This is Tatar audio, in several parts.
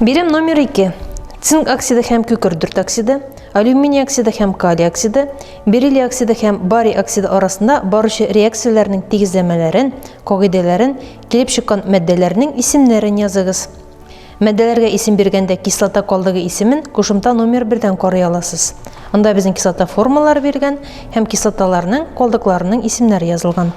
Бирем номер 2. Цинк оксиды һәм күкердүрт оксиды, алюминий оксиды һәм калий оксиды, бериллий оксиды һәм барий оксиды арасында баручы реакцияләрнең тигезләмәләрен, кагыйдәләрен, килеп чыккан матдәләрнең исемнәрен языгыз. Мәдәләргә исем биргәндә кислота калдыгы исемен кушымта номер бердән карый аласыз. Анда безнең кислота формалары биргән һәм кислоталарның калдыкларының исемнәре язылган.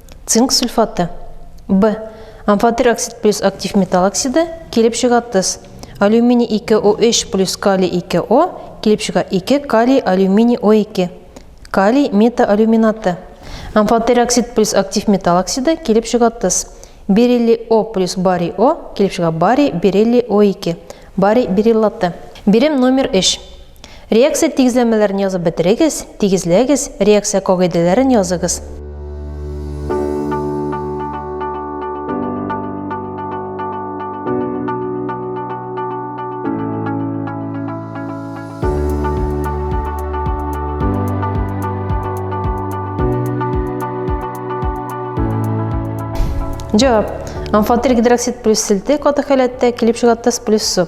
Цинк сульфаты. Б. Амфотер оксид плюс актив металл оксиды килеп чыга тыз. Алюминий 2O3 плюс калий 2O килеп чыга 2 калий алюминий O2. Калий метаалюминаты. Амфотер оксид плюс актив металл оксиды килеп чыга тыз. Бериллий О плюс барий О килеп чыга барий бериллий O2. Барий бериллаты. Бирем номер 3. Реакция тигезләмәләрен язып бетерегез, тигезләгез, реакция кагыйдәләрен языгыз. Җавап. Амфотерик гидроксид плюс селте каты халәттә килеп чыга плюс су.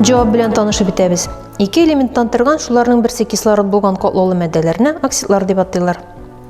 Җавап белән танышып бетәбез. Ике элементтан торган шуларның берсе кислород булган котлаулы матдәләрне оксидлар дип атыйлар.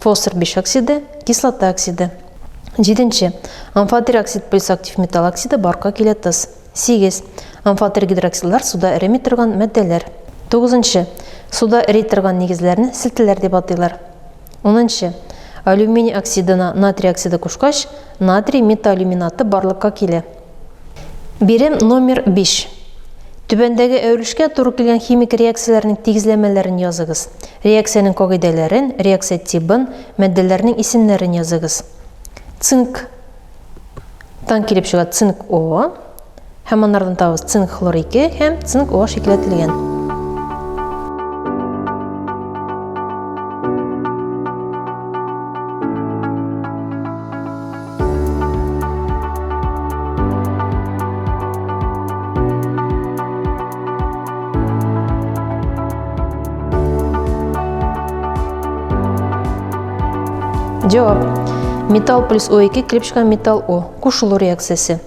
Фосфор биш оксиды, кислота оксиды. Җиденче. Амфотерь оксид плюс актив металл оксиды барка килә тыз. Сигез. Амфотерь гидроксидлар суда эреми торган матдәләр. Тугызынчы. Суда эри торган нигезләрне селтеләр дип атыйлар. Унынчы. Алюминий оксидына натрий оксиды кушкач, натрий металлюминаты барлыкка килә. Бирем номер 5. Түбәндәге әверелешкә туры килгән химик реакцияләрнең тигезләмәләрен языгыз. Реакциянең кагыйдәләрен, реакция тибын, матдәләрнең исемнәрен языгыз. Цинк тан килеп чыга цинк О һәм аннардан табыз цинк хлор 2 һәм цинк О шикеләтелгән. Җавап. Металл плюс О2 клипшка металл О. Кушылу реакциясе.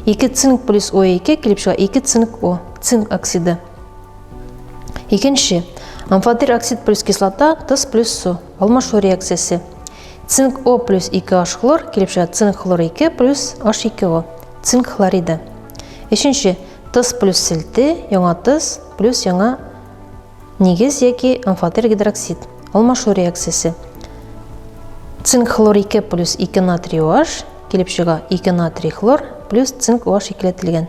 2 цинк плюс О2 клипшка 2 цинк О. Цинк оксиды. Икенче. Амфотир оксид плюс кислота, тыс плюс су. Алмашу реакциясе. Цинк О плюс 2 H хлор килеп чыга цинк хлор 2 плюс H2O. Цинк хлориды. Өченче тыз плюс селте, яңа тыз плюс яңа нигез яки амфотер гидроксид. Алмашу реакциясе. Цинк хлор 2 плюс 2 натрий OH килеп чыга 2 натрий хлор плюс цинк OH икеләтелгән.